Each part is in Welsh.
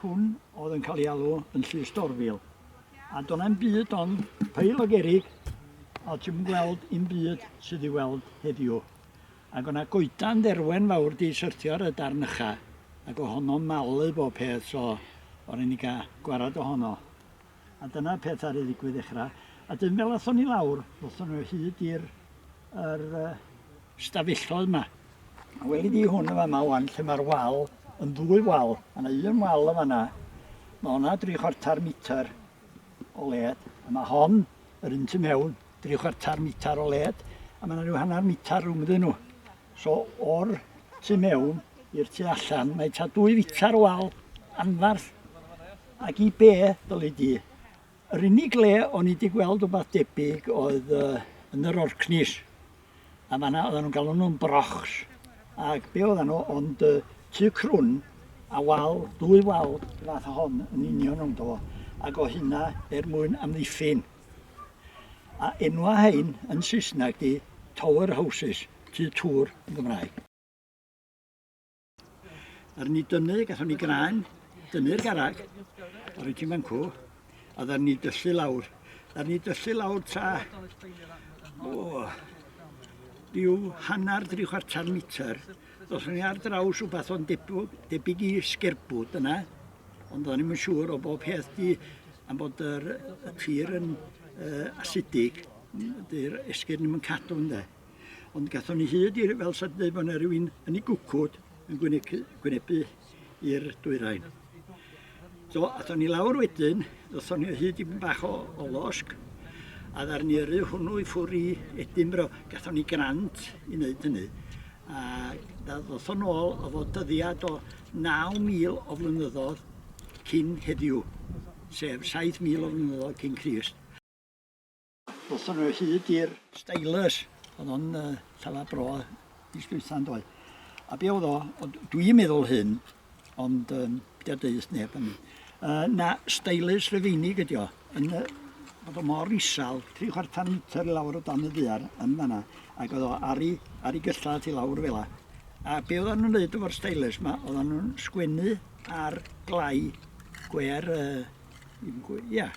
Hwn oedd yn cael ei alw yn Llys Dorfil. A do'n am byd ond peil o gerig a ti'n gweld un byd sydd i weld heddiw. Ac o'na goedan dderwen fawr di syrtio ar y darn ycha ac o honno malu bob peth so o'n i'n gael gwarad o honno. A dyna'r peth ar ei ddigwydd ddechrau. A dyn fel athon ni lawr, athon nhw hyd i'r er, uh, stafelloedd yma. A weli di hwn yma yma wan, lle mae'r wal yn ddwy wal. A na un wal yma yna. Mae hwnna dri chwarter metr o led. A mae hon, yr un tu mewn, dri chwarter metr o led. A mae yna rhyw hanner metr rhwng ddyn nhw. So o'r tu mewn i'r tu allan, mae ta dwy fitar o wal anfarth. Ac i be, dylu di? Yr unig le o'n i di gweld rhywbeth debyg oedd uh, yn yr Orkneys. A fanna oedden nhw'n galw nhw'n brochs. Ac be oedden nhw, ond uh, tu crwn a wal, dwy wal fath o hon yn union o'n do. Ac o hynna er mwyn amddiffyn. A enwa rhain yn Saesneg di tower houses, tŷ tŵr yn Gymraeg. Ar ni dynnu, gathon ni graen, dynnu'r garag, a rwyt ti'n fan cw, a ddar ni dyllu lawr. Ddar ni dyllu lawr ta, o, rhyw hanner dri chwarter metr Os o'n i ar draws rhywbeth o'n debw- debyg i sgerbwd yna, ond o'n i'm yn siŵr o bob peth di am bod yr, y tir yn uh, asidig, dy'r esgyrn ddim yn cadw ynde. Ond gathon ni hyd i, fel sa'n dweud, bod yna rhywun yn ei gwcwd yn gwynebu, gwynebu i'r dwyrain. Do, athon ni lawr wedyn, ddothon ni o hyd i bach o, o losg, a dda'r ni yrru hwnnw i ffwr i Edinbro. Gathon ni grant i wneud hynny. A ddothon ôl o fod dyddiad o 9,000 o flynyddoedd cyn heddiw, sef 7,000 o flynyddoedd cyn Crist. Ddothon nhw hyd i'r... Staelys. Oedd o'n llawer bro mis dwytha yn doedd. A be oedd o, dwi'n meddwl hyn, ond um, da deus neb yn mi. Uh, na, staelys rhyfeinig ydi o, yn y, bod o mor isal, tri chwarter metr i lawr o dan y ddiar yn fanna, ac oedd o ar ei, ar ei gylla ti lawr fel la. A be oedd nhw'n neud efo'r staelys yma, oedd nhw'n sgwennu ar glai gwer uh, Ia,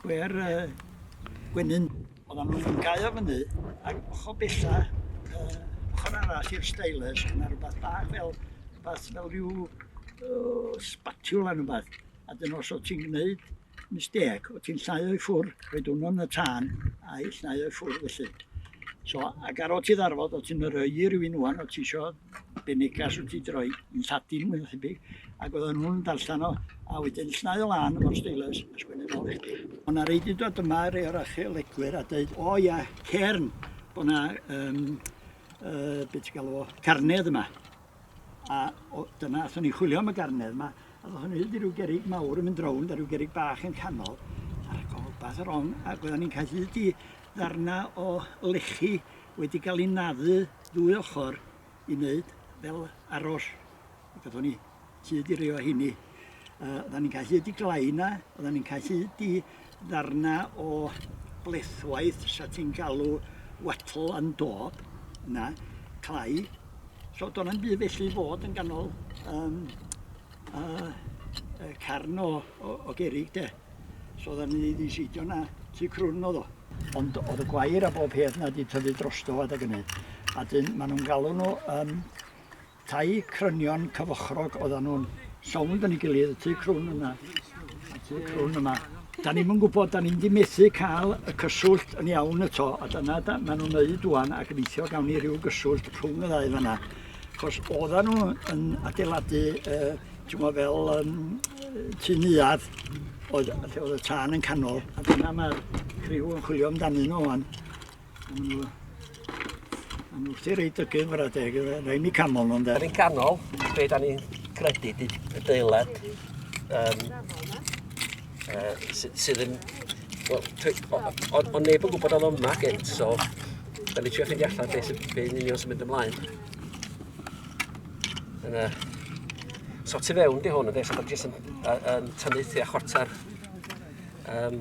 gwe'r yy gwenyn. Oeddan nhw'n gau o fyny ac ochr bella, yy, ochr arall i'r stylus, oedd yna rhywbeth bach fel, rhywbeth fel rhyw uh, spatula neu rhywbeth. A dyn os oedd ti'n gwneud mistec, oedd ti'n llnau o'i ffwr, rhoi hwnnw yn y tân a'i llnau o'i ffwr felly. So, ac ar ôl ti ddarfod, oedd ti'n rhoi i rywun wan, oedd ti eisiau Be neges wyt ti di roi? Yn Lladin mwy na thebyg, ac oedden nhw'n darllen o, a wedyn llnau o lan efo'r steilers a sgwennu nôl i chdi. O' na rei di dod yma, rei o'r archeolegwyr, a deud, o ia, cairn, bo' na, um, uh, be ti'n galw o, carnedd yma. A o, dyna, athyn ni chwilio am y garnedd yma, a ddothon ni hyd i ryw gerig mawr yn mynd rownd a ryw gerig bach yn canol, ar y golbath ar on, ac oedden ni'n cael hyd i ddarna o lechi wedi cael ei naddu ddwy ochr i wneud fel aros. Gathon ni hyd i rei o hynny. Uh, oedden ni'n cael hyd i glaina, oedden ni'n cael hyd i ddarna o blethwaith sa ti'n galw wattle and dob, na, clai. So do'n am byd felly fod yn ganol um, uh, carn o, o, o gerig de. So oedden ni wedi seidio na, tu crwn oedd o. Ond oedd y gwair a bob peth na wedi tyfu drosto a deg yny. A dyn, maen nhw'n galw nhw um, tai crynion cyfochrog oedden nhw'n sownd yn ei gilydd, y tu crwn yna, y tu crwn yma. Da ni'n gwybod, da ni'n di methu cael y cyswllt yn iawn y to, a dyna da, maen nhw'n neud dwan ac yn eithio gawn ni rhyw gyswllt rhwng y ddau fanna. Chos oedden nhw yn adeiladu uh, Dyma fel um, tu neuad oedd, oedd y tân yn canol, a dyna mae'r criw yn chwilio amdani nhw o'n. Yn wrth i reid dygu fyrra deg, rhaid ni canol nhw'n deg. Yn un canol, be da ni'n credu di y deilad um, uh, sydd yn... Wel, o'n neb yn gwybod oedd yma gynt, so da ni trio ffeindio allan beth sy'n union sy'n mynd ymlaen. Yna. So tu fewn di hwn, ynddi, so da jyst yn, yn tynnu tu a chwarter um,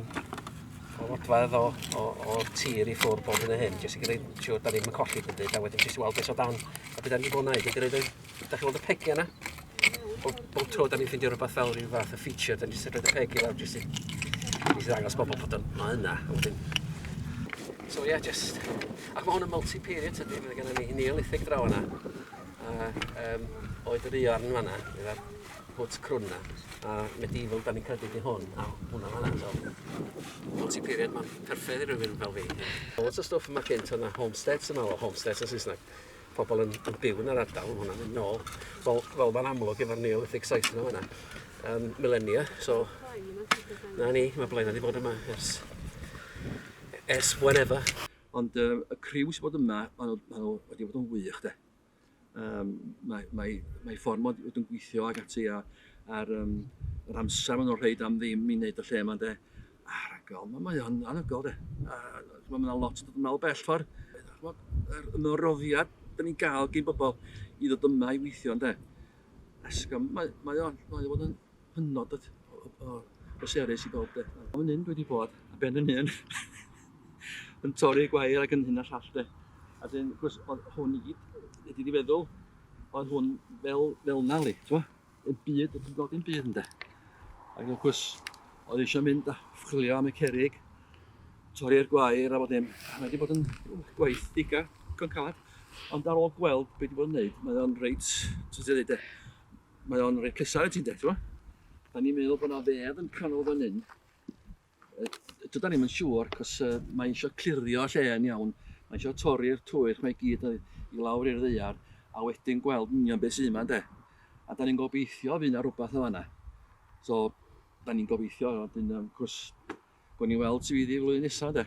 o fodfedd o, o, o tir i ffwrdd bob yn y hyn, jyst i gyda'n siŵr da ni'n colli dim byd, a wedyn jyst i weld beth o dan, a beth da ni'n bod yn gwneud, i gyda'n, da chi'n weld y pegi yna? Bob, bob tro da ni'n ffeindio rhywbeth fel rhyw fath o feature, da ni'n jyst yn rhoi y pegi fel jyst i, jyst i ddangos bobl bod o'n ma yna, a wedyn So ie, yeah, just... Ac mae hwn yn multi-period, ydy, mae gen i Neolithic draw yna. A yym oedd yr iorn yn fanna efo'r hwt crwn 'na a medieval 'dan ni'n credu 'di hwn a hwnna fan 'na so multi period ma'n perffeth i rywun fel fi. O' lot o stwff yma cynt o'dd 'na homesteads yn fanno homesteads yn Saesneg pobol yn yn byw yn yr ardal ma' hwnna'n mynd nôl fel fel ma'n amlwg efo'r neolithic site yna fan 'na yym milenia so 'na ni ma' Blaena 'di bod yma ers ers whenever. Ond um, y criw sy'n bod yma, maen nhw, maen nhw wedi bod yn wych, de. Um, mae, mae, mae ffordd mod wedi gweithio ag ati a, ar um, yr amser maen nhw'n rhaid am ddim i wneud y lle yma, de. A rhagol, mae, mae o'n anhygoel, de. A, mae yna lot yn dod yn ôl bell ffordd. Yr ymroddiad dyn ni'n gael gyn bobl i ddod yma i weithio, de. Esgym, mae, mae o'n, mae o'n hynod o o o bleserus i bawb 'de. Wel fan hyn dwi 'di bod ar ben yn hun yn torri gwair ac yn hyn a llall 'de. A 'dyn wrth gwrs o'dd hwn i gyd fedri di feddwl oedd hwn fel fel 'na li t'mo'? Y byd y ti'n gweld dim byd ynde? Ac wrth gwrs oedd eisiau mynd a chwilio am y cerrig, torri'r gwair a bod dim. A mae wedi bod yn gwaith diga digon calad. Ond ar ôl gweld be' 'di bod yn wneud, mae o'n reit, sut i ddeud e, Mae o'n rhoi pleser i ti de, t'mo'? Da ni'n meddwl bod 'na fedd yn canol fan hyn. Dydan ni'm yn siŵr, cos uh, mae eisiau clirio lle yn iawn. Mae eisiau torri'r twyll mae gyd i lawr i'r ddeiar, a wedyn gweld union beth sy'n yma, de. A da ni'n gobeithio fydd yna rhywbeth yn fanna. So, da ni'n gobeithio, a dyn, um, cwrs, gwn ni weld sydd wedi flwyddyn nesaf, de.